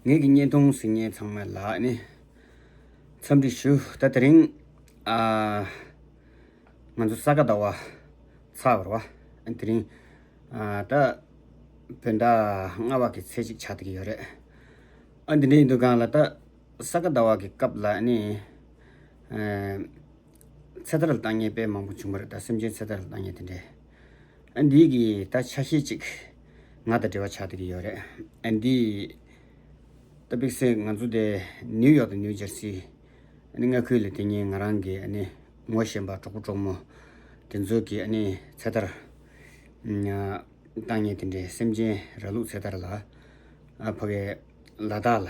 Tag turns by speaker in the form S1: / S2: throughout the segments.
S1: ངེད་ཀྱི་བརྙན་ཐུང་གཟིགས་ཉེན་ཚང་མ་ལགས་ནས་འཚམས་འདྲི་ཞུ། ད་དེ་རིང། ང་ཚོ་ས་ག་ཟླ་བ། ཚ་བར་བ། དེ་རིང། ད། བོད་ཟླ་ལྔ་བ་གི་ཚེས་གཅིག་ཆགས་ཐུག་གི་ཡོད་རེད། ཨ་འདི་འདྲའི་འདུ་ཁང་ལ་ད། ས་ག་ཟླ་བ་གི་སྐབས་ལ་ནི། ཚེ་ཐར་ལ་བཏང་ཉེན་དཔེ་མང་པོ་བྱུང་བ་རེད་ད་སེམས་ཅན་ཚེ་ཐར་ལ་བཏང་ཉེན་དེ་འདྲའི། ཨ་འདིའི་གི་ད་ཆ་ཤེས་ཅིག། ང་དང་འབྲེལ་བ་ཆགས་འདི་གི་ཡོད་རེད། ཨ་འདིའི། ད་པིག་སེ་ང་ཚོ་དེ་ནིའུ་ཡོག་དང་ནིའུ་ཇར་སི། ཨ་ནི་མངའ་ཁུལ་ལ་དེ་ཉིན་ང་རང་གི་ཨ་ནི་ངོ་བཞེན་པ་གྲོགས་པོ་གྲོགས་མོ། དེ་ཚོ་གི་ཨ་ནི་ཚེ་ཐར། བཏང་ཉེ་དེ་འདྲའི་སེམས་ཅན་ར་ལུག་ཚེ་ཐར་ལ། ཨ་ཕ་གི། ལ་དྭགས་ལ།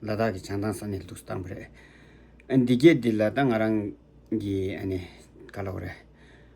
S1: ལ་དྭགས་གི་བྱང་ཐང་ས་ནས་ལུགས་སུ་བཏང་བ་རེད། ཨ་འདི་སྐད་འདི་ལ་ད་ང་རང་གི་ཨ་ནི་ག་ལ་འོ་རེད།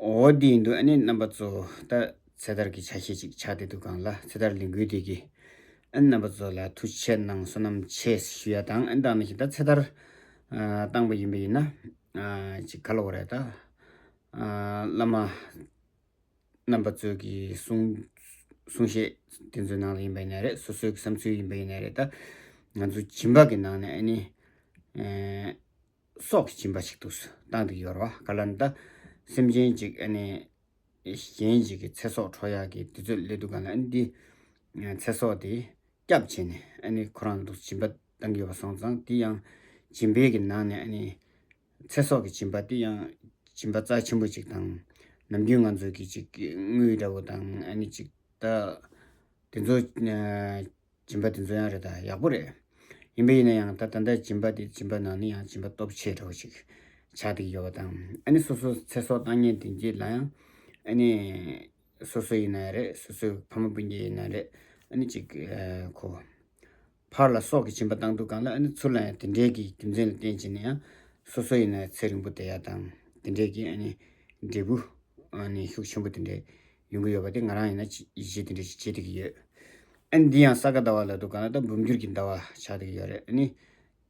S1: འོ་དེའི་འདུག་ཨ་ནི་རྣམ་པ་གཙོ་བོ་ད་ཚེ་ཐར་གྱི་ཆ་ཤས་ཅིག་ཆགས་ཏེ་འདུག་གང་ལ་ཚེ་ཐར་ལས་འགུལ་དེ་གི་ཨ་ནི་རྣམ་པ་གཙོ་ལ་ཐུགས་ཆེར་གནང་བསོད་ནམས་ཆེ་ཞུ་ཡ་དང་ཨ་ནི་དང་ནི་ཞིག་ད་ཚེ་ཐར་བཏང་པ་ཡིན་པ་ཡིན་ན་ཅིག་ག་ལ་བ་རེད་ད་བླ་མ་རྣམ་པ་གཙོ་གི་གསུང་གསུང་བཤད་དེ་ཚོའི་ནང་ལ་ཡིན་པ་ཡིན་ན་རེད་སོ་སོའི་བསམ་ཚུལ་ཡིན་པ་ཡིན་ན་རེད་ད་ང་ཚོ་བྱིན་པ་གི་ནང་ནས་ཨ་ནི། སྲོག་གི་བྱིན་པ་ཞིག་ཏུ་བཏང་སྟེ་ཡོར་བ་ཀ་ལ་ནྡ་སེམས་ཅན་གཅིག་གཞན་ཞིག་གི་ཚེ་སྲོག་འཕྲོག་ཡག་གི་དུས་ཚོད་སླེབས་འདུག་ག་ལ་ནྡའི་ཚེ་སྲོག་དེ་སྐྱབས་བྱས་ནས་ཁོ་རང་ལ་བྱིན་པ་བཏང་གི་ཡོད་པ་སོང་ཙང་དེ་ཡང་བྱིན་འབེལ་གྱི་ནང་ནས་ཚེ་སྲོག་གི་བྱིན་པ་དེ་ཡང་བྱིན་པ་རྩ་ཆེན་པོ་ཅིག་དང་ནམ་རྒྱུན་ང་ཚོ་གི་ཅིག་དངུལ་འདྲ་བོ་དང་ཅིག་དེ་ཚོ་སྦྱིན་པ་དེ་ཚོ་ཡང་རེད་ད་ཡག་པོ་རེད། ཡིན་པ་ཡིན་ན་ཡང་ད་ད་ལྟ་སྦྱིན་པ་དེ་སྦྱིན་པ་ནང་ནས་ཡང་སྦྱིན་པ་སྟོབས་ཆེ་དྲགས་པོ་ཞིག་ཆགས་འདུག་ཡོད་པ་དང་ཨ་ནི་སོ་སོ་ཚེ་སྲོག་བཏང་ཉེན་དེ་འགྱེད་ལ་ཡང་ཨ་ནི་སོ་སོ་ཡིན་ན་ཡང་རེད་སོ་སོའི་ཕ་མ་སྤུན་མཆེད་ཡིན་ན་ཡང་རེད་ཨ་ནི་ཅིག་གོ། ཕར་ལ་སྲོག་གི་སྦྱིན་པ་བཏང་འདུག་གང་ལ་ཨ་ནི་ཚུར་ལ་ཡང་དེ་འདྲའི་གི་རྒྱུ་མཚན་ལ་བརྟེན་བྱས་ན་ཡང་སོ་སོ་ཡིན་ན་ཡང་ཚེ་རིང་པོ་དེ་ཡག་དང་དེ་འདྲའི་གི་ཨ་ནི་འབྲས་བུ་ཨ་ནི་ཤུགས་ཆེན་པོ་དེ་འདྲའི་ཡོང་གི་ཡོད་པ་དེ་ང་རང་ཡིན་ན་ཡིད་ཆེས་དེ་འདྲ་ཞིག་བྱེད་བསྡད་ཀྱི་ཡོད། ཨ་ནི་འདི་ཡང་ས་ག་ཟླ་བ་ལ་དུ་ག་ན་ད་འབུམ་འགྱུར་གྱི་ཟླ་བ་ཆགས་བསྡད་ཀྱི་ཡོད་རེད་ཨ་ནི།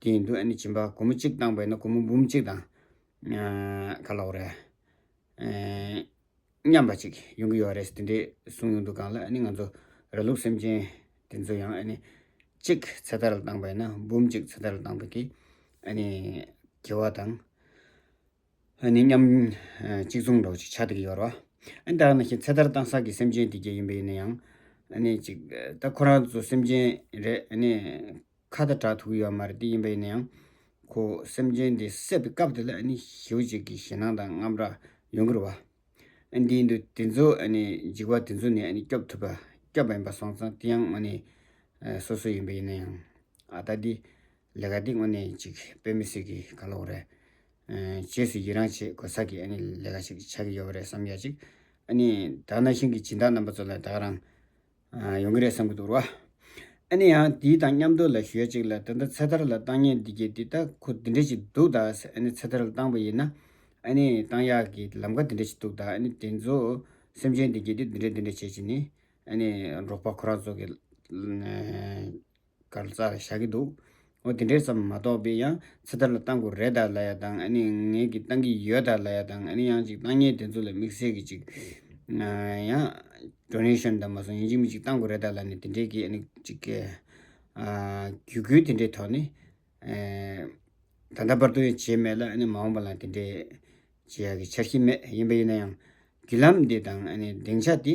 S1: དེ་ཡིན་དུས་ཨ་ནི་བྱིན་པ་གུང་མོ་གཅིག་བཏང་བས་ན་གུང་མོ་འབུམ་གཅིག་དང། ག་ལ་འོ་རེད། མཉམ་པ་ཅིག་ཡོང་གི་ཡོད་རེད་དེ་འདྲས་གསུངས་ཡོང་དུ་གང་ལ་ཨ་ནི་ང་ཚོ་ར་ལུག་སེམས་ཅན་དེ་ཚོ་ཡང་ཨ་ནི། གཅིག་ཚེ་ཐར་ལ་བཏང་བས་ན་འབུམ་གཅིག་ཚེ་ཐར་ལ་བཏང་བས་ཀྱི་ཨ་ནི། དགེ་བ་དང། ནི་མཉམ། གཅིག་མཚུངས་འགྲོགས་ཅིག་ཆ་དེ་གི་ཡོར་བ། ཨ། འདི་ལ་ནི་ཞེས་ཚེ་ཐར་བཏང་བསགས་ཀྱི་སེམས་ཅན་དེ་བརྒྱད་ཡིན་པ་ཡིན་ན་ཡང། ནི་གཅིག། ད་ཁོ་རང་ཚོ་སེམས་ཅན་རེད། ནི། ཁ་ད་གྲགས་ཐུག་ཡོད་མ་རེད་དེ་ཡིན་པ་ཡིན་ན་ཡང། ཁོ། སེམས་ཅན་དེ་བསད་པའི་སྐབས་དེ་ལ་ནི་ཞེའུ་ཅིག་གི་ཞེད་སྣང་དང་རྔམ་རག་ཡོང་གི་རུ་བ། ཨ། འདིའི་འདུ་དེ་ཚོ་ནི་འཇིགས་པ་དེ་ཚོ་ནི་ནི་སྐྱོབ་ཐུབ་པ་སྐྱོབ་པ་ཡིན་པ་སོང་ཙང་དེ་ཡང་ངོ་ནི། སོ་སོ་ཡིན་པ་ཡིན་ན་ཡང། ཨ་ད་འདི། ལས་ཀ་འདི་ངོ་ནི་གཅིག་དཔེ་མི་སྲིད་གི་ག་ལ་འོ་རེད། རྗེས་སུ་ཡི་རངས་བྱེད་དགོས་ས་ཀྱི་ལས་ཀ་ཞིག་ཆགས་ཀྱི་ཡོད་པ་རེད་བསམ་ཡ་ཅིག་དྭགས་ན་ཤིང་གི་སྦྱིན་བདག་རྣམ་པ་ཚོ་ལ་དྭགས་རང་ཡོང་གི་རེད་བསམ་གྱི་འདུག་ར་ཨ་ནི་ཡང་དེའི་དང་མཉམ་དུ་ལ་ཞུ་ཡ་ཅིག་ལ་ད་ལྟ་ཚེ་ཐར་ལ་བཏང་ཉེ་འདི་གྱི་འདི་ལྟ་ཁུ་འདི་འདྲ་ཞིག་འདུག་ད་ཚེ་ཐར་ལ་བཏང་པ་ཡིན་ན་ཨ་ནི་བཏང་ཡག་གི་ལམ་ཁ་འདི་འདྲ་ཞིག་འདུག་ད་ཨ་ནི་དེ་ཚོ་སེམས་ཅན་འདི་གྱི་འདི་འདྲ་འདི་འདྲ་བྱེད་ཅིག་ནི་ཨ་ནི་རོགས་པ་ཁོ་རང་ཚོ་གི། གར་རྩ་བཞག་གི་འདུག་ཨོ་དེ་འདྲས་ཙམ་མ་གཏོགས་པའི་ཡང་ཚེ་ཐར་ལ་བཏང་དགོས་རེད་ད་ལ་ཡ་དང་ཨ་ནི་ངེད་ཀྱིས་བཏང་གི་ཡོད་ད་ལ་ཡ་དང་ཨ་ནི་ཡང་ཅིག་བཏང་ཉེས་དེ་ཚོ་ལ་དམིགས་བསལ་གྱི་ཅིག་ཡང Donation དང་མ་སོང་ཡིན་ཅིག་མི་ཅིག་བཏང་དགོས་རེད་ད་ལ་ནི་དེ་འདྲས་ཀྱི་ཨ་ནི་ཅིག་གི་གུ་གུལ་དེ་འདྲས་ཐོག་ནི་ད་ལྟ་བར་དུ་ཡང་བྱས་མེད་ལ་ཨ་ནི་མ་འོངས་པ་ལ་དེ་འདྲས་བྱེད་ཡག་གི་འཆར་གཞི་མེད་ཡིན་པ་ཡིན་ན་ཡང་བརྒྱུད་ལམ་འདི་དང་ཨ་ནི་སྡིངས་ཆ་འདི་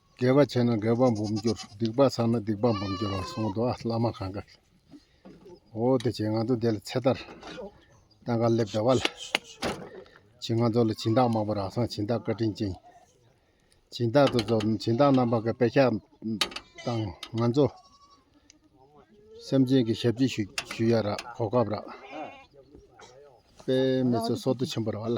S2: དགེ་བ་བྱས་ན་དགེ་བ་འབུམ་འགྱུར་སྡིག་པ་བསགས་ན་སྡིག་པ་འབུམ་འགྱུར་བར་གསུངས་འདུག་ཨ་བླ་མ་གང་གཱ་ཨོ་དེ་བྱས་ང་ཚོ་འདི་ལ་ཚེ་ཐར་ལྟ་ག་ལེབ་བདེ་བ་ལ་བྱིན་ང་ཚོ་ལ་བྱིན་བདག་མང་པོ་རག་སང་བྱིན་བདག་བཀའ་དྲིན་ཅན་བྱིན་བདག་ཏུ་རྫོགས་ནས་བྱིན་བདག་རྣམ་པ་ག་དཔེ་ཆ་དང་ང་ཚོ་སེམས་ཅན་གྱི་ཞབས་ཕྱི་ཞུ་ཞུ་ཡ་རག་གོ་སྐབས་རག་དཔེ་མི་ཚོ་སོ་ཏུ་ཆེན་པོ་ར་བ་ལ་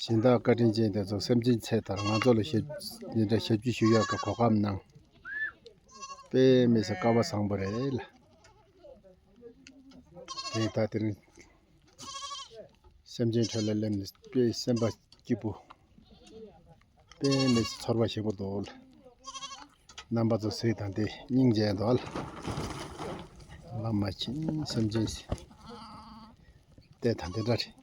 S3: གཞན་དག་བཀའ་དྲིན་ཅན་དེ་ཚོ་སེམས་ཅན་ཚེ་ཐར་ང་ཚོ་ལ་ཞབས་འདི་འདྲ་ཞབས་ཀྱིས་ཞུ་ཡག་གི་གོ་སྐབས་གནང་པས་དམིགས་བསལ་དཀའ་བ་བཟང་པོ་རེད་ལ། དེ་ད་དེ་རིང་སེམས་ཅན་ཁྲོད་ལ་སླེབས་ནས་དཔེ་སེམས་པ་སྐྱིད་པོ་དཔེ་མེད་ཚེ་ཚོར་བ་ཞིག་པོ་འདུག་ལ། རྣམ་པ་ཚོ་གཟིགས་དང་དེ་སྙིང་རྗེ་འདུག་ལ། བླ་མ་མཁྱེན་སེམས་ཅན་ཟས་དང་དེ་འདྲ་རེད།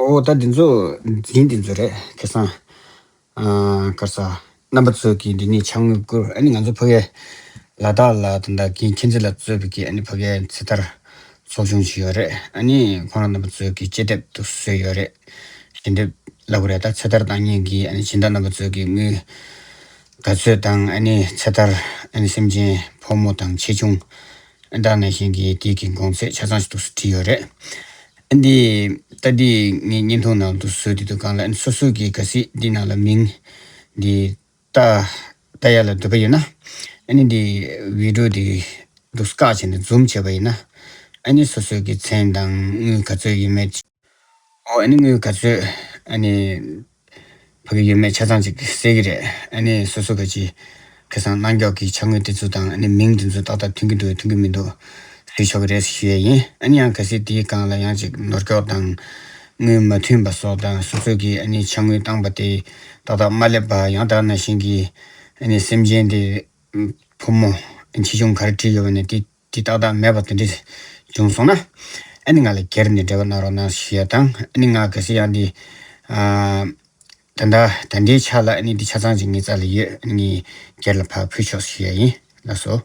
S1: ཨོ་ད་འདི་ཚོ་འཛིན་འདི་ཚོ་རེད་ཁེ་སང། སྐར་ཚ། རྣམ་པ་ཚོས་ཀྱིས་འདི་ནས་བྱ་དངོས་བསྐུར་ཨ་ནི་ང་ཚོ་ཕ་གའི། ལ་དྭགས་ལ་དང་དྭགས་ཀྱི་མཁྱེན་བརྩེ་ལ་རྩོད་པའི་ཀྱི་ཨ་ནི་ཕ་གའི་ཚེ་ཐར། ཚོགས་ཆུང་ཞིག་ཡོད་རེད་ཨ་ནི་ཁོང་རང་རྣམ་པ་ཚོས་ཀྱིས་དཔྱད་དེབ་ཏུ་བཟོས་ཡོད་རེད། ཞལ་འདེབས་ལབ་གི་རེད་ད་ཚེ་ཐར་བཏང་ཉིན་གྱི་ཨ་ནི་སྦྱིན་བདག་རྣམ་པ་ཚོས་ཀྱིས་དངུལ། ག་ཚོད་དང་ཨ་ནི་ཚེ་ཐར་ཨ་ནི་སེམས་ཅན་ཕོ་མོ་དང་ཆེ་ཆུང། ཨ་ནི་དྭགས་ནས་གཞན་གྱིས་དེའི་གི་དགོངས་ཚད་ཆ་ཚང་ཞིག་ཏུ་བྲིས་ཡོད་རེད། ཨ་འདི་ལྟ་འདི་ངའི་བརྙན་ཐུང་ནང་དུ་བཟོས་འདི་འདུག་གང་ལ་སོ་སོ་གིས་ག་སྲིད་འདི་ནང་ལ་མིང་འདི་ལྟ་ལྟ་ཡ་ལ་འདོད་པ་ཡོད་ན་ཨ་ནི་འདི་བི་དྲོ་འདི་འདུག་སྐག་བྱས་ནས་འཛུམ་བྱས་པ་ཡིན་ན་ཨ་ནི་སོ་སོ་གིས་མཚན་དང་དངུལ་ག་ཚོད་ཡིན་མེད་ཅེས་ཨོ་ཨ་ནི་དངུལ་ག་ཚོད་ཨ་ནི་ཕ་གི་ཡུལ་མའི་ཆ་ཚང་ཅིག་གསལ་གྱི་རེད། ཨ་ནི་སོ་སོ་ག་ཅིག་གི་སང་གནང་མགྱོགས་ཀྱི་ཆ་དངོས་དེ་ཚོ་དང་ཨ་ནི་མིང་དེ་ཚོ་ཏག་ཏག་མཐུན་གྱི་འདུག་མཐུན་གྱི་མི་འདུག་ཟེར་ཆོག་གི་རེད་ཟེར་ཞུ་ཡས་ཡིན་ཨ་ནི་ཡང་གལ་སྲིད་དེའི་སྒང་ལ་ཡང་ཅིག་ནོར་འཁྱོག་དང། དངུལ་མ་མཐུན་པ་སོགས་དང་སོ་སོ་གིས་ཨ་ནི་ཆ་དངུལ་བཏང་པ་དེ་ཏག་ཏག་མ་སླེབས་པ་ཡང་དག་ན་བཞིན་གྱི་ཨ་ནི་སེམས་ཅན་དེ། བུ་མོ། ཁྱི་ཆུང་གར་བྲིས་ཡོད་པ་ནས་དེ། འདི་རྟག་བདག་མེད་པ་དེ་འདྲས་བྱུང་སོང་ན། ཨ་ནི་ང་ལ་གྱེར་ནས་འབྲེལ་བ་གནང་རོགས་གནང་ཞེས་དང་ཨ་ནི་ང་གལ་སྲིད་ཡང་འདི། ད་ལྟ་ད་ལྟའི་ཆ་ལ་ཨ་ནི་འདི་ཆ་ཚང་ཅིག་ངའི་རྩ་ལ་ཡོད་ཨ་ནི་གྱེར་ལ་ཕར་ཕུད་ཆོག་ཞེས་ཡིན་ལགས་སོ།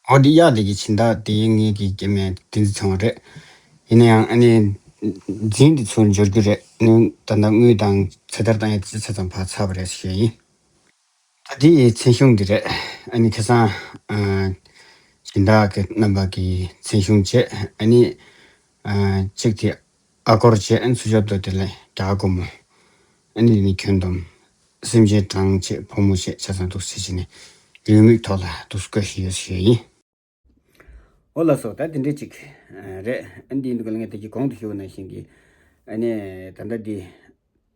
S1: འོ་འདི་གཡག་འདི་གི་བྱིན་བདག་དེ་ཡིན་ངེས་ཀྱི་སྐྱེ་དམན་དེ་འདི་ཚང་བ་རེད། ཡིན་ན་ཡང་ཨ་ནི། རྫིང་འདི་ཚུར་འབྱོར་རྒྱུ་རེད་ནི་ད་ལྟ་དངུལ་དང་ཚེ་ཐར་དང་ཡང་ཅི་ཚད་ཙམ་བག་ཚ་བ་རེད་ཟེར་ཞེས་ཡིན། ད་འདི་ཡི་མཚན་གཞུང་འདི་རེད། ཨ་ནི་ཁེ་སང། བྱིན་བདག་གི་རྣམ་པ་གི་མཚན་གཞུང་བྱས་ཨ་ནི། གཅིག་དེ་ཨ་སྒོར་བྱེད་ཨེ་འཚོལ་ཞབས་ཏོ་དེ་ལས་དགྲ་དགོ་མོ་ཨེ་འདི་ནི་ཁྱོད་འདོམས། སེམས་ཅན་གྲངས་ཆེད་ཕོ་མོ་ཞེས་བྱ་ཚང་དུག་སེལ་བྱེད་ནས་ལུས་མིག་ཐོག་ལ་དུག་སེལ་བཀོལ་བཞིན་ཡོད་ཞེས་བཤད་ཡིན། ཨོ་ལ་སོགས་ད་དེ་འདྲས་ཅིག་རེད་ཨེ་འདི་འདུག་ལ་ངས་དེ་ཀྱི་གོང་དུ་ཞུ་བ་ནང་བཞིན་གྱི་ཨེ་ནས་ད་ལྟ་འདི།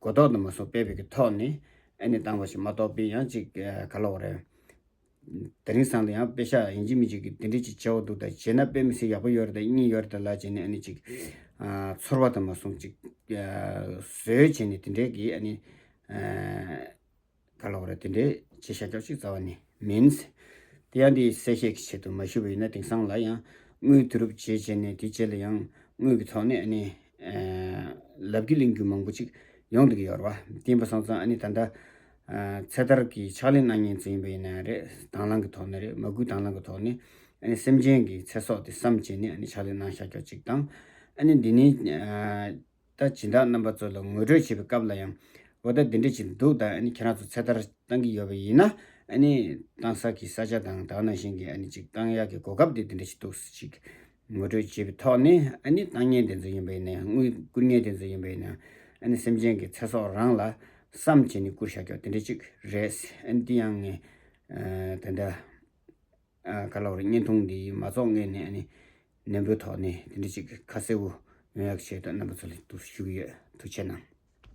S1: གོ་རྟོགས་དུ་མ་སོགས་སྤེལ་བའི་གི་ཐོག་ནས་ཨེ་ནི་བཏང་བ་ཞིག་མ་གཏོགས་པའི་ཡང་ཅིག་ག་ལོག་རེད། དེ་རིང་སང་དུ་ཡང་དཔེ་ཤག་ཡིན་གཅིག་མིན་གཅིག་གི་དེ་འདྲས་ཅིག་བྱེད་འོག་འདུག་ད་བྱེད་ན་དཔེ་མི་སྲིད་ཡག་པོ་ཡོད་རེད་ད་གཉིས་ཡོད་རེད་ད་ལ་བྱེད་ནས་ཨེ་ནི་ཅིག་ཚོར་བ་དུ་མ་ཟུང་ཅིག་བཟོས་བྱས་ནས་དེ་འདྲས་གི་ཨེ་ནི། ག་ལ་བར་དེ་འདྲའི་བྱས་ཤ་རྒྱགས་གཅིག་རྩ་བ་ནས་མིན། དེ་ཡང་དེའི་གསལ་བཤད་ཀྱི་ཆེད་དུ་མ་ཞུ་བ་ཡིན་ན་དེང་སང་ལ་ཡང་དངུལ་དུ་རུབ་བྱས་བྱས་ནས་དེ་རྗེས་ལ་ཡང་དངུལ་གྱི་ཐོག་ནས་ཨ་ནི་ལབ་རྒྱུ་གླེང་རྒྱུ་མང་པོ་ཅིག་ཡོང་འདུག་ཡོར་བ་དེ་ཡིན་པ་སོང་ཙང་ཨ་ནི་ད་ལྟ་ཚེ་ཐར་གྱི་ཕྱག་ལེན་གནང་ཉེན་ཙམ་ཡིན་པ་ཡིན་ན་ཡང་རེད་དྭང་བླང་གི་ཐོག་ནས་རེད་མ་གུས་དྭང་བླང་གི་ཐོག་ནས་ཨ་ནི་སེམས་ཅན་གྱི་ཚེ་སྲོག་དེ་བསམ་བྱས་ནས་ཨ་ནི་ཕྱག་ལེན་གནང་ཤ་རྒྱགས་གཅིག་དང་ཨ་ནི་འདི་ནི། ད་བྱིན་བདག་རྣམ་པ་ཚོ་ལ་ངོ་སྤྲོད་བྱེད་པའི་སྐབས་ལ་ཡང། འོ་ད་འདི་འདྲ་བྱེད་འདུག་ད་ཁྱེད་རང་ཚོ་ཚེ་ཐར་བཏང་གི་ཡོད་པ་ཡིན་ན། བཏང་ས་ཀྱི་ས་ཆ་དང་དག་ན་བཞིན་གྱི་ཅིག་བཏང་ཡག་གི་གོ་སྐབས་དེ་འདི་འདྲ་ཞིག་འདུག་ཅིག། ངོ་སྤྲོད་བྱེད་པའི་ཐོག་ནས་བཏང་ཉེན་དེ་ཚོ་ཡིན་པ་ཡིན་ན་ཡང་དངུལ་བསྐུར་ཉེན་དེ་ཚོ་ཡིན་པ་ཡིན་ན། སེམས་ཅན་གྱི་ཚེ་སྲོག་རང་ལ་བསམ་བྱས་ནས་བསྐུར་བཞག་ཀྱོག་དེ་འདྲ་ཅིག་རེད། དེ་ཡང་ངས་དེ་འདྲ། ག་ལ་བར་བརྙན་ཐུང་འདི་མ་རྫོགས་སྔོན་ནས་ནི། ནན་པོའི་ཐོག་ནས་དེ་འདྲ་ཅིག་གི་ཁ་གསལ་བོ་ཡོང་ཡག་བྱེད་དུ་རྣམ་པ་ཚོ་ལ་ཞུ་གི་ཡོད་ཐུགས་ཆེ་གནང།